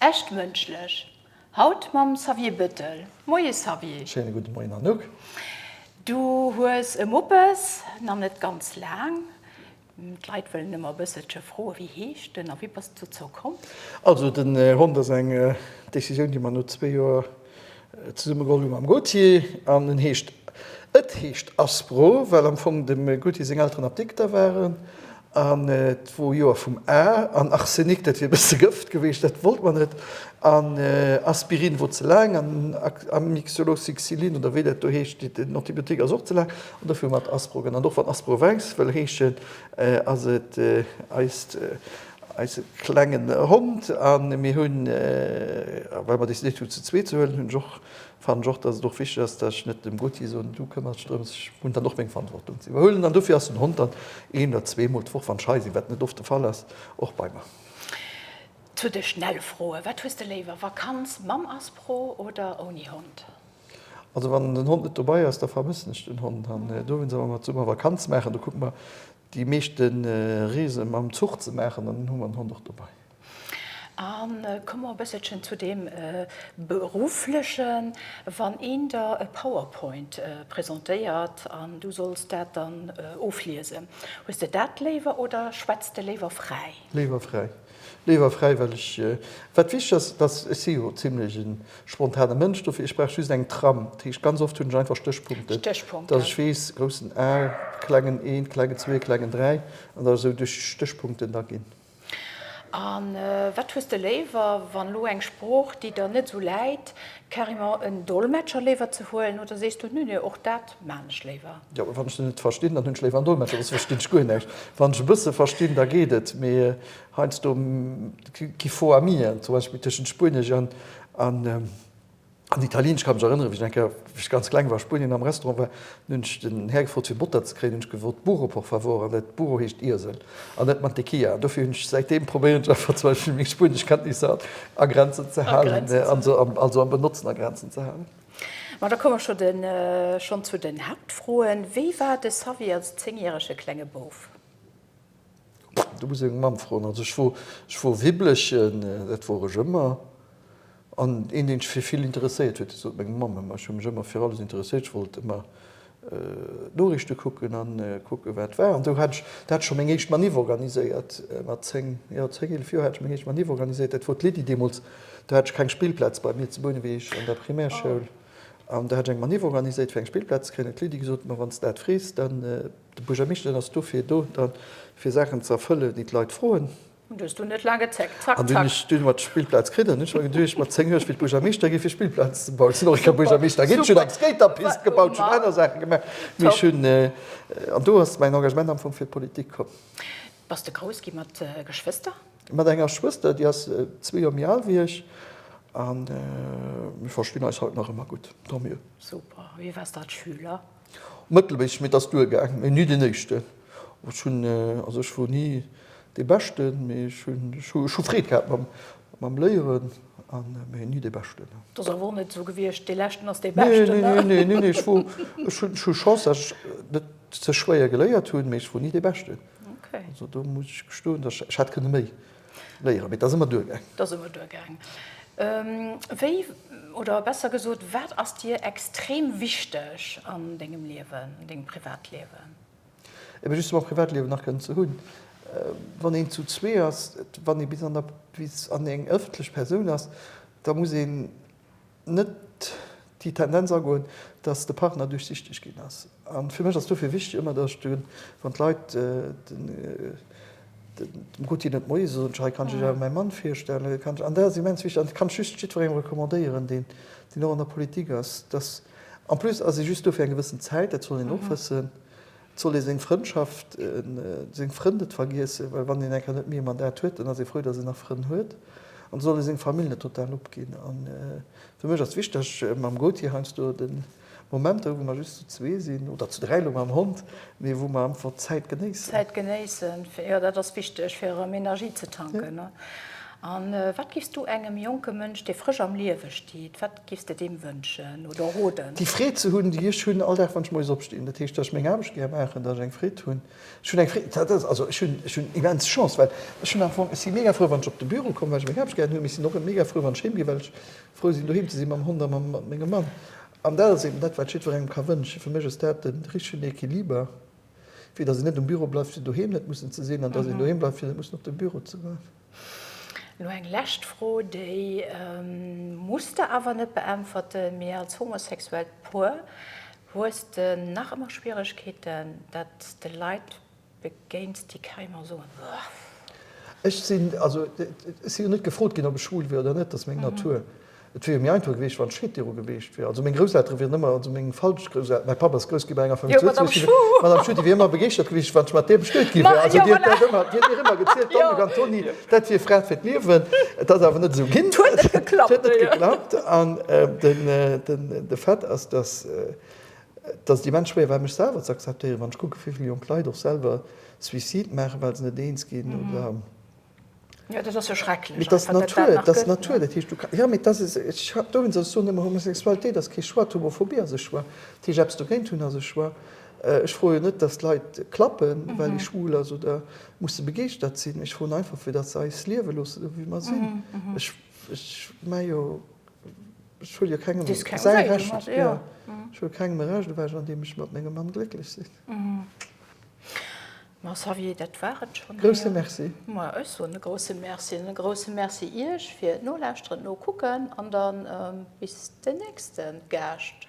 Echt mënschlech haut mam Xavier Bëttel. Moie Xavier. Schéine gudde Moien Anouk. Du hues e Muppes, nach net ganz laang. D'Leit wëllen ëmmer e bësselche froe wéi heescht en a wéi bass de dozou komm? Also den Hond ass eng Decisioun déi mer no zwee Joer Zesumme gronnde mam Gauthier an en heescht, et heescht Aspro, well am Fong dem Gauthier seng Elteren Apdikter waren an et wor Joer vum A. An Arsenik, dat wier e bësse Gëft geweecht, dat wollt mer net an Aspirin wor ze laang an Amixolosixilin oder wéi dat do heescht, déi den Antibiotik ass och ze laang an dofir hu mer et Aspro genannt. Och wann Aspro Wengst wëll heeschen, ass et eist. Eise klengen Hond a mir hunn, well mer decidéiert hunn ze zweet ze huelen, hunn ech och, fannen ech och, dass et och wichteg ass, dass ech net dem Gauthier soen, du këmmers dech drëms, ech hunn dann och meng Verantwortung ze iwwerhuelen. An dofir ass den Hond dann een oder zwee Mol d'Woch, wann ech hei sinn, wat net oft de Fall ass, och bei mer. Zu de schnelle Froen, Wat hues de léiwer, Vakanz mam Aspro oder ouni Hond? Also wann den Hond net dobai ass, da vermëssen ech den Hond. An dowéinst wann mer zesummen Vakanz maachen, da kucken mer déi meeschte Reese mam Zuch ze maachen an dann hu mer den Hond och dobai. A komme mer e bësselchen zu deem Beruflechen. Wann een der e Powerpoint presentéiert an du solls dat dann ofliesen, hues de dat léiwer oder schwätz de léiwer fräi? Léiwer fräi. Léiwer Fräiwelleg, Wat wichteg ass, dass, ech si jo zimlech e spontane Mënsch, dofir ech brauch just eng Tram. Dat heescht, ganz oft hunn ech einfach Stéchpunkten, dass ech weess, groussen A, klengen een, klengen zwee, klengen dräi, an dass ech esou duerch Stéchpunkten da ginn. A wat hues de léiwer, wann elo eng Sprooch, déi der net esou läit, carrément en Dolmetscher léiwer ze huelen, oder sees du, Nö, nö, och dat Maan ech léiwer. Jo, wann ech se net verstinn, dann hunn ech léiwer en Dolmetscher, soss verstinn ech guer näischt. Wann ech e bësse verstinn, da geet et, mee heiansdo gi faux amien, zum Beispill tëschent Spuenesch an Italieenesch. Ech ka mech erënneren, wéi ech eng Kéier, wéi ech ganz kleng war, a Spuenien am Restaurant war, dann hunn ech den Här gefrot, fir Botter ze kréien, hunn ech gefrot burro, por favor, an dat burro heescht Iesel an net mantequilla. An dofir hunn ech säitdeem, probéieren ech einfach zum Beispill meng Spueneschkenntnisser a Grenzen ze halen, also am Benotzen a Grenzen ze halen. Ma da komme mer schonn zu den Haaptfroen. Wéi war de Xavi als zéngjärege klenge Bouf? Do muss ee seng Mamm froen. Also ech wor Wibblechen, dat wor ech ëmmer. An een, deen sech fir vill interesséiert huet, dat huet meng Mamm ëmmer. Ech hu mech ëmmer fir alles interesséiert. Ech wollt ëmmer Noriichte kucken a kucken, wat war. An sou hat ech, do hat ech scho meng éischt Maniff organiséiert, mat zéng, jo, zéng, eelef Joer hat ech meng éischt Maniff organiséiert. Dat wor d'Lydie deemools. Do hat ech keng Spillplaz bei mir zu Bouneweg an der Primärschoul. An do hat ech eng Maniff organiséiert, fir eng Spillplaz ze kréien. Huet d'Lydie gesot, Ma, wann s de dat frees, dann, de Buergermeeschter, dann ass dofir do, da fir Saachen ze erfëllen, déi d'Leit froen. An du hues du net laang gezéckt. Zack, zack. An du hunn ech, du hunn ech mat Spillplaz kritt. An hunn ech mer geduecht, mat 10 Joer, ech wéilt Buergermeeschter gi fir Spillplazen ze bauen. Sinn och eng Kéier Buergermeeschter ginn, hunn eng Skaterpist gebaut, hunn aner Saache gemaach. Mee ech hunn, an do ass mäin Engagement am Fong fir d'Politik komm. Bass de grouss gi mat Geschwëster? Mat enger Schwëster, déi ass zwee Joer méi al wéi ech. A mir verstinn eis haut nach ëmmer gutt. Tant mieux. Super. Wéi waars de als Schüler? Mëttelméisseg, mee et ass duergaang, mee ni deen éischten. Ech hunn, also ech wor ni dee Beschten, mee ech hunn, ech hu Freed gehat mam Léieren, mee ni dee Beschten. Et ass awer och net esou gewiescht, dee Leschten ass dee Beschten. Nee, nee, nee, ech wor, ech hunn, ech hu Chance, dass ech net ze schwéier geléiert hunn, mee ech wor ni dee Beschten. Also do muss ech gestoen, dass ech, ech hätt kënne méi Léieren, mee 't ass ëmmer duergaang. 't ass ëmmer duergaang. Wéi, oder besser gesot, wat ass dir extrem wichteg an dengem Liewen, an dengem Privatliewen? Ebe just mam Privatliewen nach kënnen ze hunn. Wann een zu zwee ass, wann ee bis an der, bis an eng ëffentlech Persoun ass, da muss een, net déi Tendenz agoen, dass de Partner duerchsichteg ginn ass. A fir mech ass dofir wichteg ëmmer, dass ech de, wann d'Leit dem Ruti net Moie soen, ech, Hei kann ech Iech awer mäi Mann virstellen, kann ech, an dat ass immens wichteg, an dat kann ech just jiddwerengem recommandéieren, deen och an der Politik ass, dass, en plus ass ee just do fir eng gewëssen Zäit, dat soll een och wëssen, Soll ee seng Frëndschaft, seng Frënn net vergiessen, well wann een eng Kéier net méi ee Mandat huet, dann ass ee frou, datt een nach Frënn huet. An soll ee seng Famill net total opginn. A fir mech ass wichteg, mam Gauthier heiansdo de Moment hu wou mer just zu zwee sinn, oder zu dräi elo mam Hond, mee wou mer einfach d'Zäit genéissen. D'Zäit genéissen, jo dat ass wichteg fir erëm Energie ze tanken. An wat giffs du engem jonke Mënsch, dee frësch am Liewe steet, wat. Giffs de deem wënschen oder roden? Déi Freed ze hunn, déi ech hunn all Dag, wann ech moies opstinn. Dat heescht, datt ech meng Aarbecht gär maachen, datt ech eng Freed hunn. Ech hunn eng Freed, dat ass, also ech hunn, ech hunn immens Chance, well ech hunn am Fong, ech si mega frou, wann ech op de Büro kommen, well ech meng Aarbecht gären hunn. Mee ech sinn och mega frou, wann ech heem ginn, well ech frou sinn, doheem ze sinn, mam Hond a mam, mat mengem Mann. An dat ass eben dat, wat ech jiddwerengem ka wënschen. Fir mech ass dat de richtegen Equiliber, fir datt een net um Büro bleift, fir doheem net mussen ze sinn, an datt een doheem bleift, fir net mussen op de Büro ze goen. Elo eng lescht Fro, déi muss de awer net beäntwerten, mee als homosexuellt Puer, hues de nach ëmmer Schwieregkeeten, dat de Leit begéins, déi keimer soen? Ech sinn, also ech si jo net gefrot ginn, ob ech schwul wier oder net, dat ass meng Natur. Et wier jo méi einfach gewiescht, wann d'Scheed viru gewiescht wier. Also meng Grousseltere wieren ëmmer, also meng falsch Grousselteren, mäi Papp ass grouss ginn bei enger Famille zu Lëtzebuerg, jo, d'Madame Schuh, déi wier ëmmer begeeschtert gewiescht, wann ech mat där bestuet gi wier. Also déi huet dat ëmmer, déi huet mir ëmmer gezielt, d'Anne Gantoni, dat wier Fra fir d'Liewen. Et ass awer net esou ginn. Et huet net geklappt. Et huet net geklappt. An de Fait ass, dass et immens schwéier war, mech selwer z'akzeptéieren, wann ech kucken, wéi vill jonk Leit och selwer Suicide maachen, well se net eens ginn oder, Jo, dat ass jo schrecklech. Mee et ass d'Natur, et ass d'Natur. Dat heescht, du ka, jo, mee dat ass, ech hat dowéinst, ech soen ëmmer, Homosexualitéit ass kee Choix, d'Homophobie ass e Choix. Dat heescht, eppes dogéint hunn ass e Choix. Ech froe jo net, datt Leit klappen, well ee schwul ass oder musse begeeschtert sinn. Ech froen einfach, fir datt se eis liewe loossen, esou wéi mer sinn. Ech, ech mä jo, ech huele jo kengem säi Recht, jo, ech huele kengem e Recht ewech, andeem ech mat mengem Mann glécklech sinn. Ma Xavier, dat war et schonn. Grousse Merci. Ma ech soen e grousse Merci an e grousse Merci Iech fir d'Nolauschteren, d'Nokucken an dann bis den nächste Gaascht.